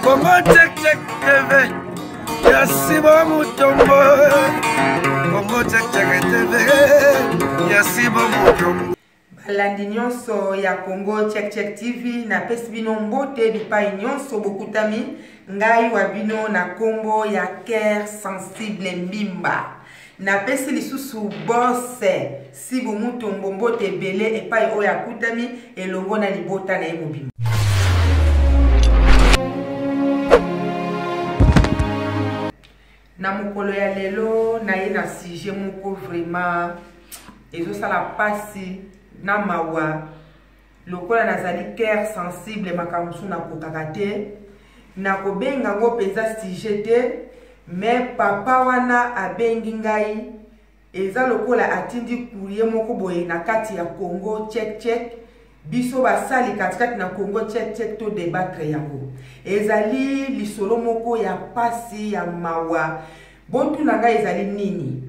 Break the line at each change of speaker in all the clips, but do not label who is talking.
Congo Check Check TV ya Simon Mutombo Congo Check Check TV ya Simon Mutombo balandi
nyonso ya congo checkcheck tv napesi bino mbote bipai nyonso bokutami ngai wa bino na nkombo ya ker sensible mbimba napesi lisusu bose sibu mutombo mbote ebele epai oyo akutami elongo na libota na ye mobimba na mokolo ya lelo naye na sujet moko vraiment ezosala mpasi na mawa lokola nazali cœur sensible makambo mosusu nakokaka te nakobenga yango mpenza sujet te me papa wana abengi ngai eza lokola atindi kurie moko boye na kati ya congo check check biso basali katikati na congo check check to debatre yango ezali lisolo moko ya mpasi ya mawa botuna ngai ezali nini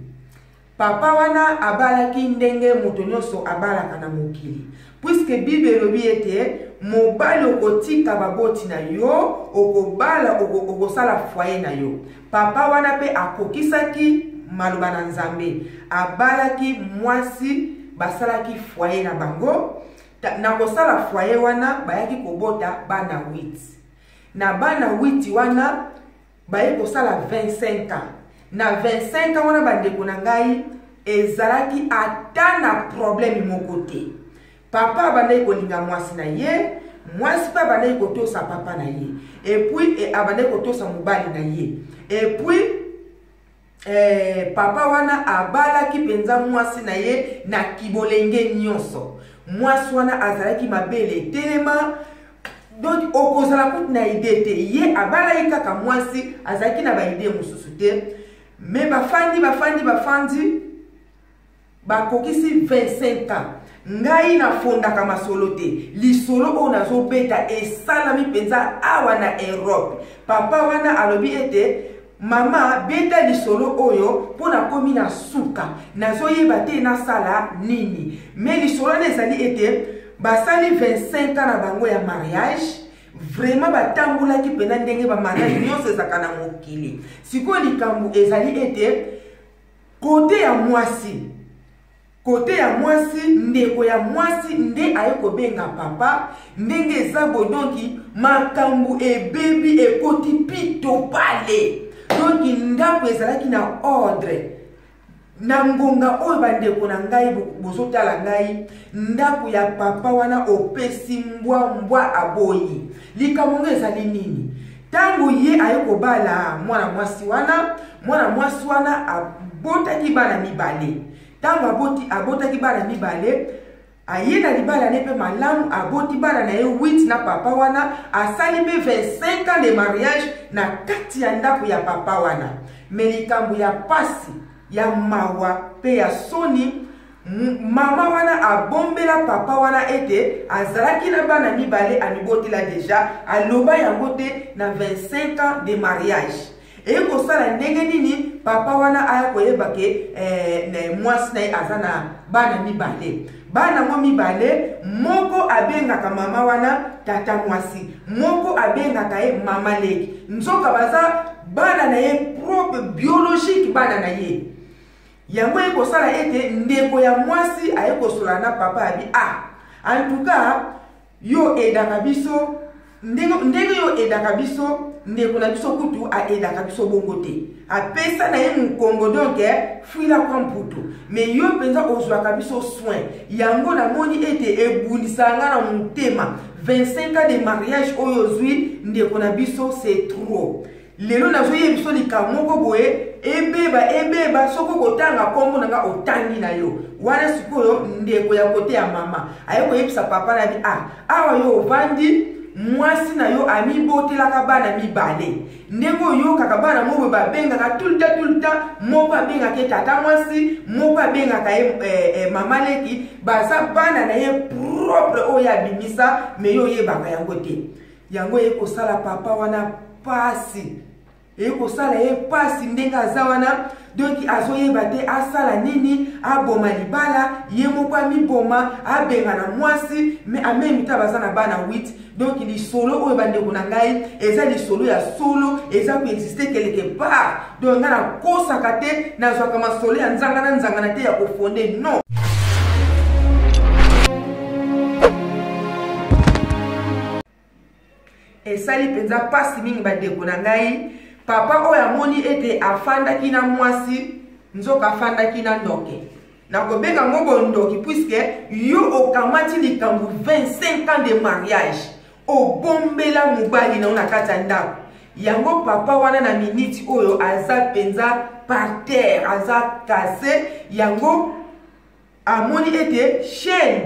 Papa wana abalaki ndenge moto nyonso abalaka na mokili. Puisque Bible elobi ete mobali okotika baboti na yo, okobala, okosala foyer na yo. Papa wana pe akokisaki maloba na Nzambe. Abalaki mwasi, basalaki foyer na bango. Na kosala foyer wana, bayaki kobota bana 8. Na bana 8 wana, baye kosala 25 ans na 25 ans wana bandeko na ngai ezalaki ata na probleme moko te papa abandaki kolinga mwasi na ye mwasi mpe abandaki kotosa papa na ye epuis e, abandaki kotosa mobali na ye epuis Eh, papa wana abalaki mpenza mwasi na ye na kibolenge nyonso mwasi wana azalaki mabele etelema donc okozala kutu na ide te ye abalaki kaka mwasi azalaki na baide mosusu te me bafandi bafandi bafandi bakokisi 25 ans ngai nafondaka masolo te lisolo oyo nazobeta esalami mpenza awa na europe papa wana alobi ete mama beta lisolo oyo mpo nakomi na suka nazoyeba te nasala nini me lisolo wana ezali ete basali 25 ans na bango ya mariage vraiment batambolaki mpenza ndenge bamariage nyonso ezalaka na mokili sikoyo likambo ezali ete kote ya mwasi kote ya mwasi ndeko ya mwasi nde aye kobenga papa ndenge eza boye donki makambo ebebi ekoti pito pale donki ndako ezalaki na ordre na ngonga oyo bandeko na ngai bozotala ngai ndako ya papa wana opesi mbwa mbwa aboyi likambo ngo ezali nini Ntango ye aye kobala mwana mwasi wana, mwana mwasi wana abotaki bana mibale. Ntango aboti, abotaki bana mibale, aye na libala ne mpe malamu, aboti bana na ye 8 na papa wana, asali mpe 25 ans de mariage na kati ya ndako ya papa wana. Me likambo ya pasi, ya mawa mpe ya soni Mama wana abombela papa wana ete azalaki na bana mibale amibotela deja, aloba yango te na 25 ans de mariage. Eye kosala ndenge nini papa wana aya koyeba ke eh, mwasi na ye aza na bana mibale bana yango mibale moko abengaka mama wana tata mwasi moko abengaka ye mama leki nzoka baza bana na ye propre biologique bana na ye Yango eko sala ete ndeko ya mwasi aye kosola na papa abi a ah, en tout cas yo edaka biso ndenge ndenge yo edaka biso ndeko na biso kutu aedaka biso bongo te apesa na ye mokongo donk eh, fuila kwa mputu me yo mpenza ozwaka biso soin yango namoni ete ebundisa nga na motema 25 ans de mariage oyo ozwi ndeko na biso se trop lelo nazoyebi biso likambo moko boye ebeba ebeba soki okotanga nkombo na nga otangi na yo wana sikoyo ndeko ya kote ya mama aye koyebisa papa na bi a ah, awa yo ovandi mwasi na yo amibotelaka bana mibale ndenge oyokaka bana moko babengaka tulta tulta moko abengaka ye tata mwasi moko abengaka ye eh, eh, mama leki baza bana na ye propre oyo abimisa me yo oyebaka yango te yango eye kosala papa wana pasi eye kosala ye pasi ndenge aza wana donki azoyeba te asala nini aboma libala ye moko amiboma abengana mwasi me amemi ta baza na bana 8 donki lisolo oyo bandeko na ngai eza lisolo ya solo eza koexiste keleke part donc nga nakosaka te nazwaka masolo ya nzanga na nzangana te ya kofonde non esali mpenza mpasi mingi bandeko na ngai papa oyo amoni ete afandaki na mwasi nzoka afandaki na ndoke nakobenga yango bondoki puiske yo okamati likambo 25 ans de mariage obombela mobali na yo na kati ya ndako yango papa wana na miniti oyo aza mpenza par terre aza kase yango amoni ete chaîne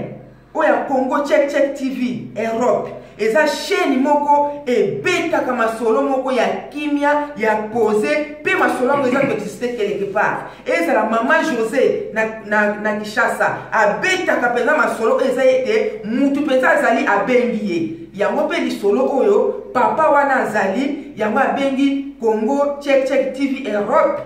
oyo ya congo check check tv europe eza chaîne moko ebetaka masolo moko ya kimia ya pose mpe masolo yango eza koexiste quelque part ezala mama josé na, na, na kinshasa abetaka mpenza masolo oyo eza ete mutu mpenza azali abengi ye yango mpe lisolo oyo papa wana azali yango abengi congo check check tv europe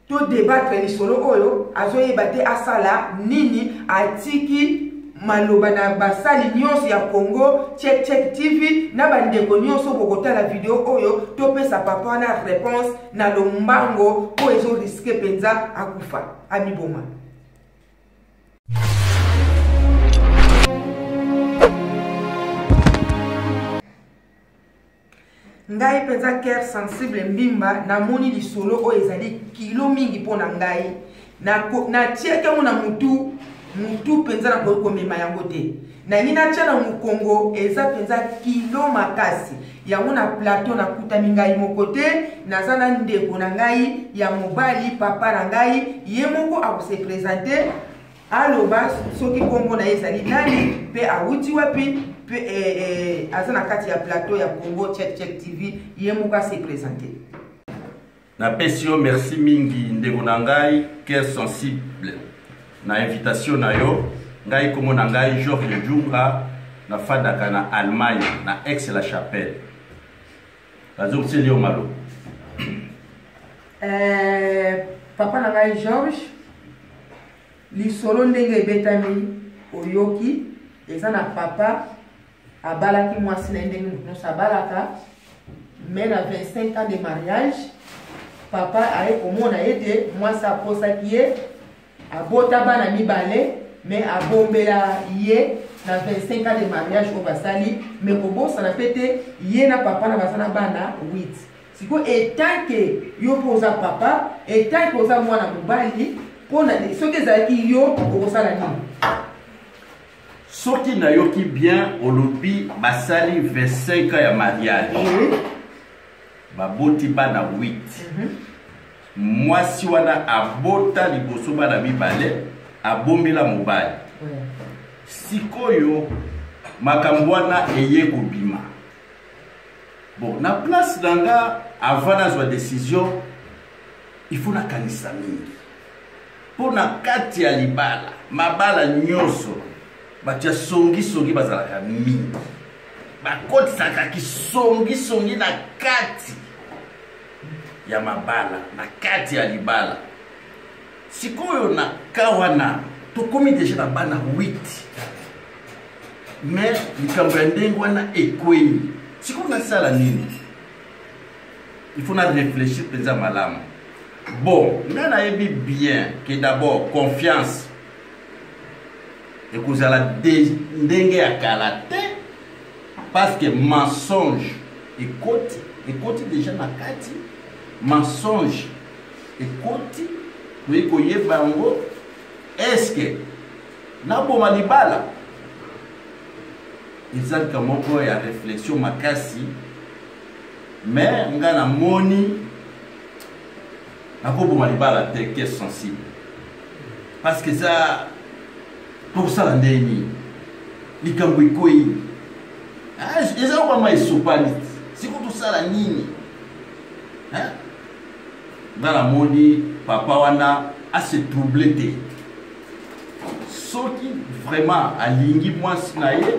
to debatre lisolo oyo azoyeba te asala nini atiki maloba na basali nyonso ya congo check check tv na bandeko nyonso bokotala video oyo topesa papa wana réponse na lombango oyo ezo riske mpenza akufa amiboma ngai mpenza cœur sensible mbimba namoni lisolo oyo ezali kilo mingi mpo na ngai natiaki yango na mutu mutu mpenza nakoki komema yango te nangi natya na mokongo eza mpenza kilo makasi yango na plateau nakutami ngai moko te naza na ndeko na ngai ya mobali papa na ngai ye moko akose presente aloba soki nkombo na ye ezali nani mpe awuti wapi mpe eh, eh, aza na kati ya plateau ya congo check check tv ye moko ase presente
napesi yo merci mingi ndeko na ngai cœur sensible na invitation na yo ngai nkombo na ngai george junga nafandaka na allemagne na ex la chapelle bazongiseli yo malo eh,
papa na ngai george lisolo ndenge ebetami oyoki eza na papa abalaki mwasi na ye ndenge moto nyonso abalaka mai na 25 ans de mariage papa aye komona ye te mwasi aposaki ye abota bana mibale mai abombela ye na 25 ans de mariage oyo basali mai kobosana mpe te ye na papa na baza na bana 8 sikoyo etanke yo mpo oza papa etanke oza mwana mobali mpo na soki ezalaki yo okosala nini soki
nayoki bien olobi basali 25 ans ya mariage oui. baboti bana 8 mm -hmm. mwasi wana abota liboso bana mibale abombela mobali oui. sikoyo makambo wana eye kobima bon na place na nga avant nazwa décision il faut nakanisa mingi mpo na kati ya libala mabala nyonso bato ya songisongi bazalaka mingi bakotisaka kisongisongi na kati ya mabala na kati ya libala sikoyo na ka wana tokomi deja na bana 8 mais likambo ya ndenge wana ekwei sikoyo nasala nini il faut na réfléchir mpenza malamu bon ngai nayebi bien que d'abord confiance ekozala ndenge ya kala te parce que mensonge ekoti ekoti déjà na kati mensonge ekoti toyei koyeba yango eske naboma libala eza likambo moko ya réflexion makasi mais nga na moni nakoboma libala te ke sensible parce que eza tokosala ndenge nini likambo ekwei ah, eza yokwama esopani siko tosala nini nga namoni papa wana ase trouble te soki vraiment alingi mwasi na ye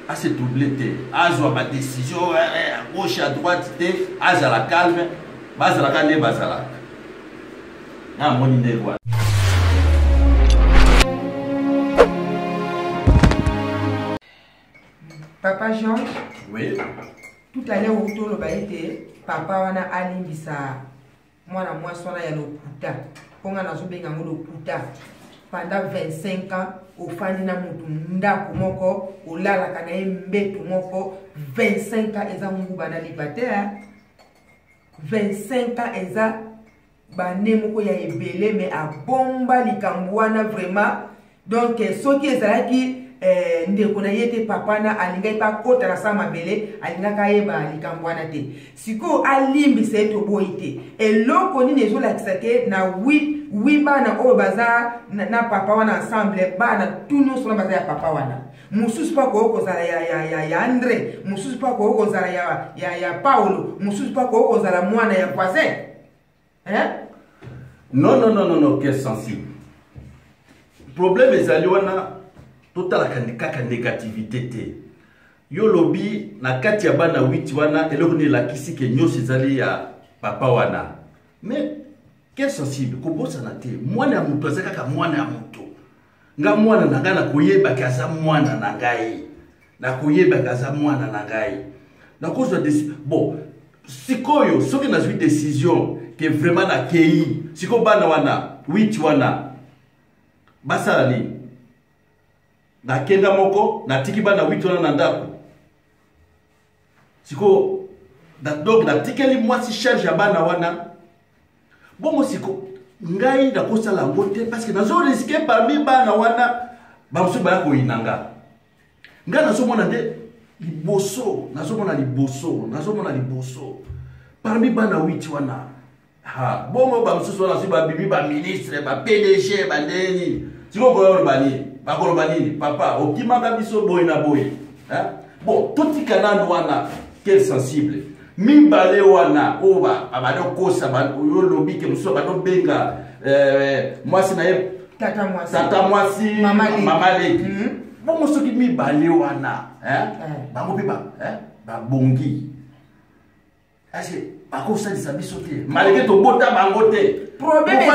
a se trouble te azwa ba décision eh, eh, à gauche à droite te azala calme bazalaka nde bazalaka na amoni ndenge wana
papa jean oui.
tout à
l'heure otoloba ete papa wana alimbisa mwana mwasi wana ya lokuta mpo ngai nazobenga yango lokuta pendant 25 ans ofandi na motu ndako moko olalaka na ye mbeto moko 25 ans eza nguba na liba te 25 ans eza bane moko ya ebele me abomba likambo wana vraiment donc soki ezalaki eh, ndeko na ye te papa na alingaki mpe akota na saa mabele alingaka ayeba likambo wana te sikoyo alimbisa ye toboyi te eloko nini ezolakisa te na wi wi bana oyo baza na, na papa wana ensemble bana tu nyonso na baza ya papa wana mosusu mpe akoki kozala ya, ya, ya, ya andre mosusu mpe akoki kozala ya, ya, ya paulo mosusu mpe akoki kozala mwana ya voisin hein
non non non non que sensible problème ezali wana totalaka kaka négativité te yo lobi na kati ya bana 8 wana eloko nini elakisi ke nyonso ezali ya papa wana mais quel sensible kobosana te mwana ya moto aza kaka mwana ya moto nga mwana na ngai nakoyebaki aza mwana na ngai nakoyebaki aza mwana na ngai nakozwa bon sikoyo soki nazwi décision ke vraiment nakei sikoyo bana wana witi wana basala nini nakenda moko natiki bana witi wana na ndako sikoyo donc natikeli mwasi charge ya bana wana bongo siko ngai nakosala yango te parceke nazo riske parmi bana wana bamosusu baya koyina nga ngai nazomona nde liboso nazomona liboso nazomona liboso parmi bana witi wana ha bongo bamosusu wana soki babimi baministre bapdg bandenge nini sikoyo koya oloba nini bakoloba nini papa okimaka biso boye na boye bon totika nanu wana quel sensible mibale wana oyo babanda okosa oyo olobi ke mosusu babanda obenga eh, mwasi na ye tata mwasi mama leki mhm. bongo soki mibale wana eh. bango mpe babongi akosalisa biso te malgré tobota bango te problème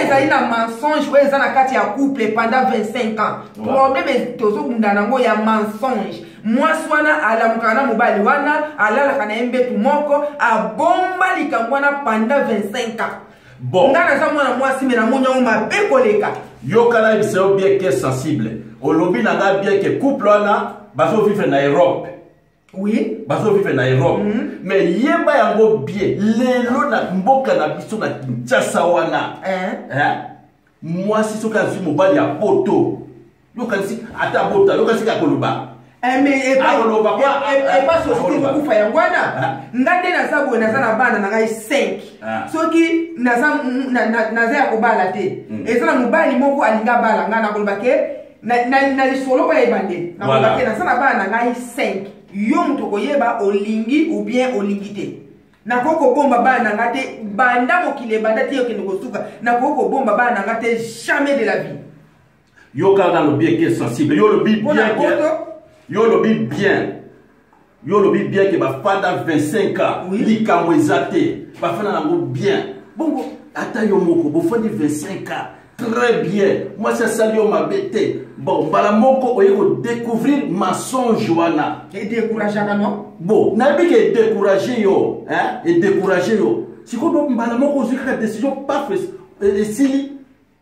ezali na mensonge oyo eza na kati ya couple pendant 25 ans problème tozobunda nango ya mensonge mwasi wana alamukaka na mobali wana alalaka na ye mbetu moko abomba likambo wana panda 25 ans bon ngai naza mwana mwasi me namoni yango mabe koleka yokala yebisa yo bien ke sensible olobi na ngai bien ke couple wana bazovivre na europe oui bazovivre na europe mm -hmm. mais yeba yango bien lelo na mboka na biso na kinshasa wana eh? Eh? mwasi soki azwi mobali ya poto yokanisi ata abota yokanisi kaka koloba akoloba epa société ekokufa yango wana nga nde naza boye naza na bana na ngai 5 ah. soki naza ya kobala te mm. eza na mobali moko alinga bala ngai nakoloba ke na, na, na lisolo oyo ya ebandeli nakobaki voilà. naza na bana na ngai 5 yo moto okoyeba olingi ou bien olingi te nakoki kobomba bana na ngai te banda mokili ebanda te okende kosuka nakoki kobomba bana na ngai te jamais de la vie yo kaka nalobi eke sensible yo olobi bien yo olobi bien yo olobi bien ke bafanda 25 ans oui. likambo eza te bafanda nango bien bongo ata yo moko bofandi 25 ans très bien mwasi asali yo mabe te bon mbala moko oye kodécouvrir mensonge wana edécourageaka no bon nayebi ke edécourage yo edécourage yo sikoyo mbala moko ozwi kaka décision pafes esili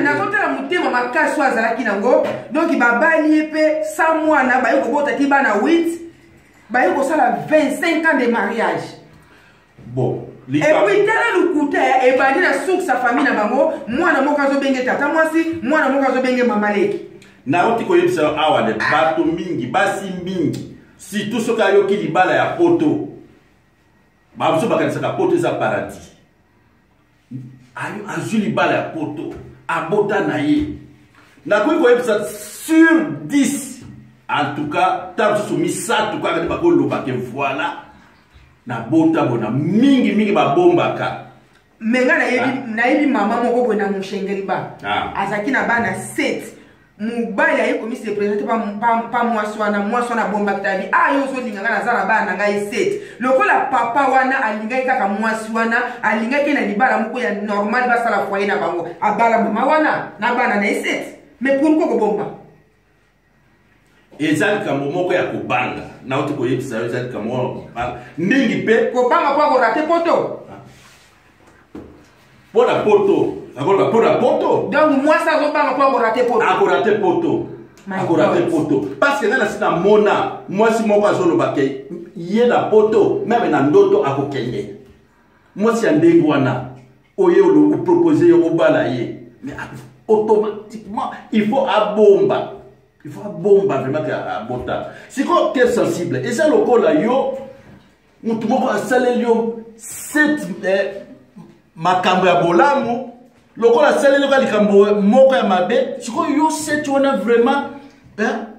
nazotala motema makasi oyo azalaki nango donk babali ye mpe sa mwana baye kobota ti bana 8 baye kosala 25 ans de mariage
bon epuis
tala lokuta ebandi na source ya famille na bango mwana moko azobenge tata mwasi mwana moko azobenge mama leki nauti koyebisa
yo awa de bato mingi basi mingi surtout soki ayoki libala ya poto bamosusu bakanisaka poto eza paradis azwi libala ya poto abota na ye nakoki koyebisa sur 10 en tout cas ntango mosusu misato kaka nde bakoloba ke voilà nabota bona mingi mingi babombaka me nga
nayebi ah. mama moko boye na moshengeli ba ah. azalaki na bana 7 mobali aye komisi represente pa mwasi wana mwasi wana abombaki tabi a ah, yo ozolinga ngai naza na bana na ngai sete lokola papa wana alingaki kaka mwasi wana alingaki na libala moko ya normal basala foye na bango abala mama wana na bana na ye sete mais pourkoi kobomba
eza likambo moko ya kobanga nauti koyebisa yo eza likambo moko ya kobanga mingi mpe kobanga mpo akorate
poto
mpo na poto akoloba mpo na poto donc mwasi azobanga
mpo akorate poto akorate poto
akorate poto parce que ngai nasi namona mwasi moko azoloba ke ye na poto meme na ndoto akokende mwasi ya ndenge wana oye opropose ye obala ye mais automatiquement il faut abomba il faut abomba vraiment ke abota sikoyo ke sensible eza lokola yo motu moko asaleli yo set eh, makambo ya bolamu lokola asaleli yoka likambo moko ya mabe sikoyo yo seti wana vraiment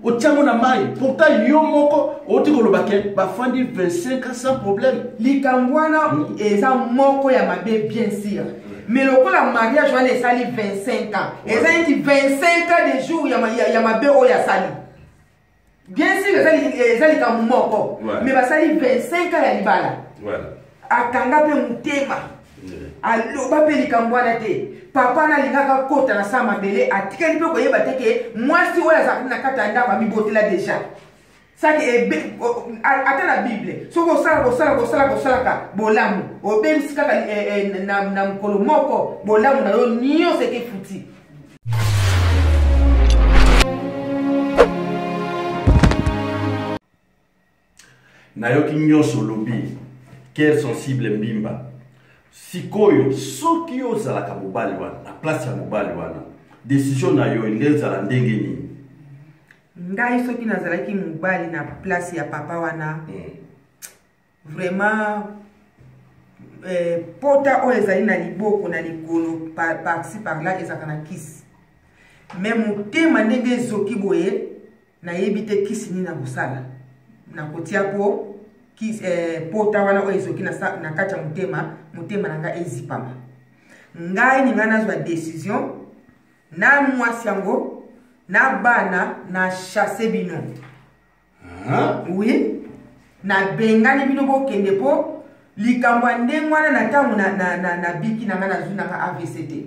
otiango na mai pourtant yo moko outi koloba ke bafandi 25 ans sans problème likambo wana hmm.
eza moko ya mabe bien sûr mais lokola mariage wana esali 25 ans eza neti 25 ans de jour ya mabe oyo asali bien sûr eza likambo moko mais basali 25 ans ya libala
akanga mpe
motema aloba mpe likambo wana te papa nalingaka kota na saa mabele atikali mpe koyeba te ke mwasi oyo azalaki na kati ya ndako amibotela deja saki ata na bible soki osala kosala kosala kosalaka bolamu obebisi kaka eh, eh, na mokolo moko bolamu na yo nyonso ekefuti
nayoki nyonso olobi kere sensible mbimba sikoyo soki yo ozalaka mobali wana na place ya mobali wana desizio na yo elingi ezala ndenge nini
ngai soki nazalaki mobali na place ya papa wana mm. vraiment eh, pota oyo ezali na liboko na likolo parci par là ezalaka na kisi me motema ndenge ezoki boye nayebi te kisi nini nakosala nakotia po kisi, eh, pota wana oyo ezoki na, na kati ya motema motema na ngai ezipama ngai ningai nazwa decision na mwasi yango na bana na chasse bino oui nabengani bino bokende mpo likambo ya ndenge wana na ntango nabiki na ngai nazwi na ngai avc te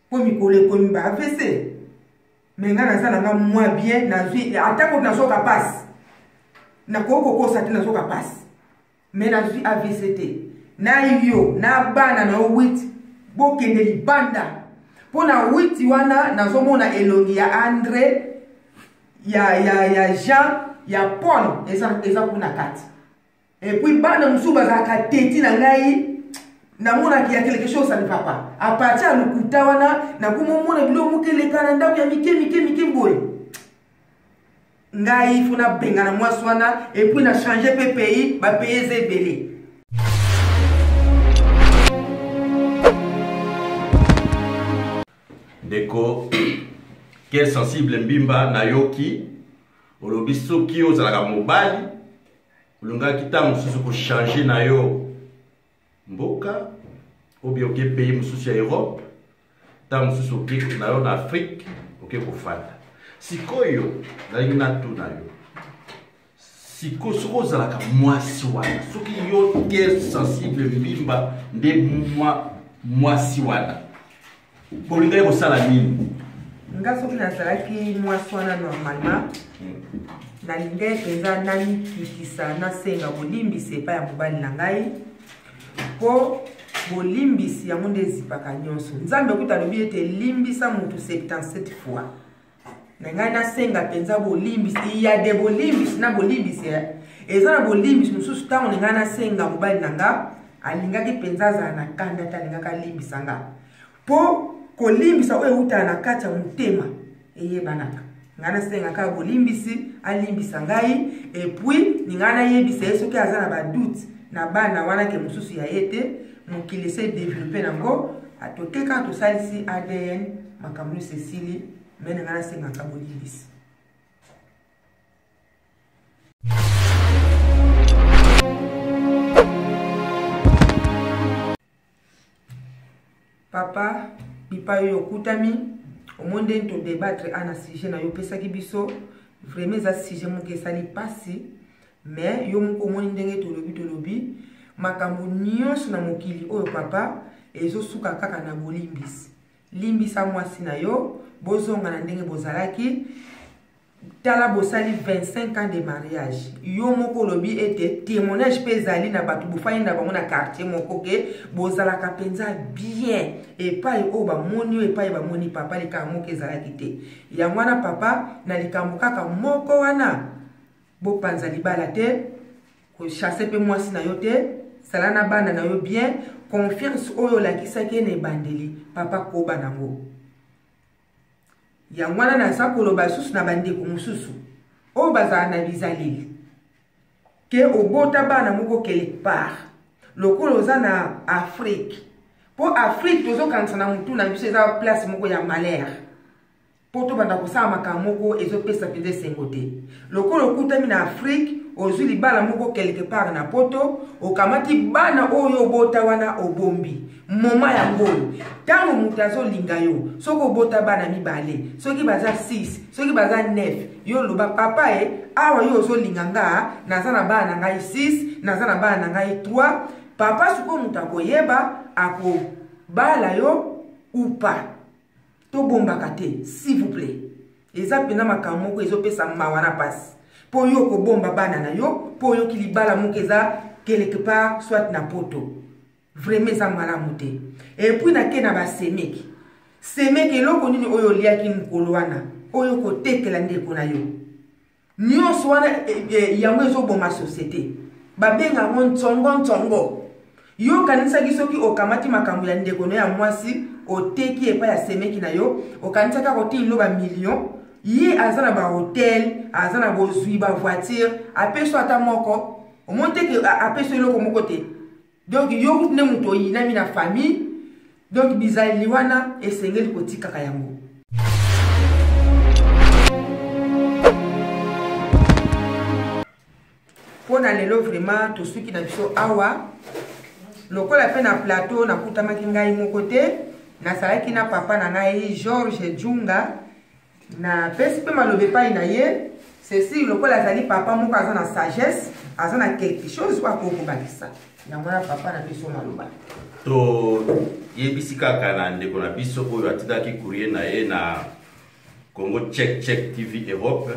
mpo mikolo ekomi ba avc me ngai naza na nga mwa bien nazwi atako nazoka mpasi nakoki kokosa te nazoka mpasi me nazwi avc te na yo na bana na yo witi bokende libanda mpo na witi wana nazomona elongi ya andre ya, ya, ya jean ya paul eza, eza kuna kati epuis bana mosusu bazalaka teti na ngai namonaki ya quelque chose ça ne va pas apartir ya lokuta wana nakomomona biloko moke eleka na ndako ya mike mike mike boye ngai ifo nabengana mwasi wana epuis na change mpe pays bapaye eza ebele
ndeko ke sensible mbimba nayoki olobi soki ozalaka mobali olingaki ntango mosusu kochange na yo mboka obi oke pays mosusu ya europe ntango mosusu oke na yo na afrike oke kofanda sikoyo nalingi natuna yo siko soki ozalaka mwasi wana soki yo ke sensible mbimba nde mwa mwasi wana bolingaki kosala nini nga soki
nazalaki mwasi wana normalement hmm. nalingaki mpenza namikitisa nasenga bolimbisi epai ya mobali na ngai mpo bolimbisi yango nde ezipaka nyonso nzambe kuta alobi ete limbisa motu 77 fois na ngai nasenga mpenza bolimbisi ya de bolimbisi na bolimbisi eh. eza na bolimbisi mosusu ntango na ngai nasenga mobali na nga alingaki mpenza azala na kanda te alingaki alimbisa nga mpo kolimbisa oyo eutaka na kati ya motema eyebanaka ngai nasenga kaka bolimbisi alimbisa ngai epuis ningai nayebisa ye soki aza na badoute na bana wana ke mosusu ya ye te mokili ese develope nango atoke kaka tosalisi adn makambo nyonso esili me na ngai nasengaka bolimbisi papa bipai oyo okutami omoi ndeni todebatre ana sujet na yo opesaki biso vraiment eza sujet moke esali mpasi Mais yo moko omoni ndenge tolobi tolobi makambo nyonso na mokili oyo papa ezosuka kaka na bolimbisi. Limbisa mwasi na yo, bozonga na ndenge bozalaki. Tala bosali 25 ans de mariage. Yo moko olobi ete témoignage mpe ezali na bato bofani na bango na quartier moko ke bozalaka mpenza bien epai oyo bamoni oyo epai bamoni papa likambo moko ezalaki te. Yango wana papa na likambo kaka moko wana bopanza libala te kochasse mpe mwasi na yo te zala na bana na yo bien confiance oyo olakisaki ye na ebandeli papa koba nango yango wana naza koloba lisusu na bandeko mosusu oyo bazala na bizaleli ke obota bana moko quelque part lokola oza na afrike mpo afrike tozokanisa na motu na biso eza place moko ya malere mpo tobanda kosala makambo moko ezopesa mpenza esengo te lokola okutami na afrike ozwi libala moko quelque part na poto okamati bana oyo obota wana obombi moma yango oyo ntango moto azolinga yo soki obota bana mibale soki baza 6 soki baza 9 yo loba papa e awa yo ozolinga nga naza na bana na ngai 6 naza na bana na ngai 3 papa sikoyo moto akoyeba akobala yo upa tobombaka te s'il vous plaît eza mpenza makambo moko ezopesa mawa na mpasi mpo oyo okobomba bana na yo mpo oyoki libala moko eza quelque part soit na poto vraimen eza malamu te epuis nake na basemeki semeki eloko nini oyo oliaki mokolo wana oyo kotekela ndeko na yo nyonso wana e, e, yango ezoboma société babenga yango ntsongo ntsongo yo okanisaki soki okamati makambo ya ndeko no ya mwasi oteki epai ya semeki na yo okanisaki akotii loba million ye aza na bahotel aza na bozwi bavoitire apeso ata moko omoni te ke apeso eloko moko te donc yo kutu nde moto oyinami na famille donc bizaleli wana esengeli kotikaka yango mpo na lelo vraiment tosuki na biso awa lokola mpe na plateau nakutamaki ngai moko te nazalaki na papa na ngai george junga napesi mpe maloba epai na ye ceci lokola azali papa moko aza na sagesse aza na quelque chose oyo akoki kobakisa yango wana papa na biso maloba
toyebisi kaka na ndeko na biso oyo atindaki courrier na ye na congo check check tv europe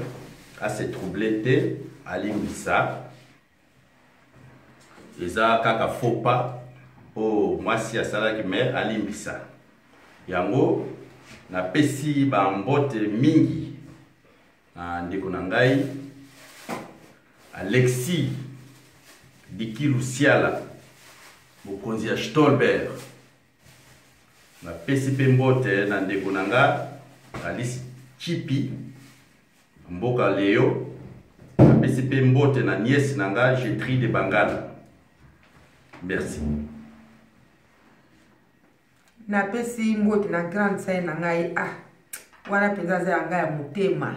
ase trouble te alimbisa eza kaka faux pas oyo mwasi asalaki me alimbisa yango napesi bambote mingi na ndeko na ngai alexi dikilusiala mokonzi ya stolberg napesi mpe mbote na ndeko na nga alice chipi mboka leo napesi mpe mbote na niese na nga jetri de bangala merci
napesi mbote na grande sœur na ngai ah wana mpenza aza ya ngai ya motema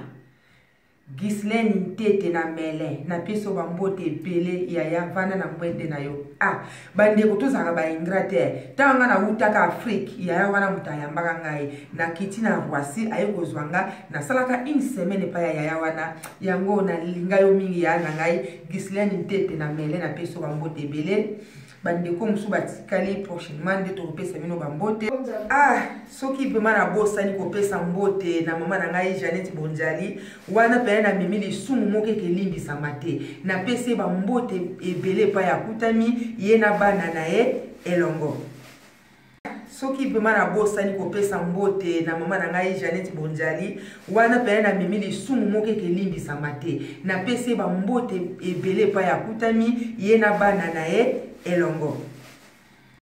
Ghislaine Ntete na Melin napesi yo bambote ebele yaya vanda na mwende na yo ah bandeko tozalaka ba ingrat te ntango ngai nawutaka afrike yaya wana moto ayambaka ngai nakiti na roissy aye kozwa nga nasalaka une semaine epai ya yaya wana yango nalinga yo mingi yaya na ngai Ghislaine Ntete na Melin napesi yo bambote ebele bandeko mosusu batikali prochainement nde tokopesa bino bambote ah soki mpema nabosani kopesa mbote na mama na ngai janete bonjali wana mpena namemi lisumu moko eke elimbisama te napesi ye bambote ebele epai akutami ye na bana na ye elongo soki vraimen nabosani kopesa mbote na mama na ngai janete bonjali wana pene na mimi lisumu moko ete elimbisama te napesi ye bambote ebele epai akutami ye na bana na ye elongo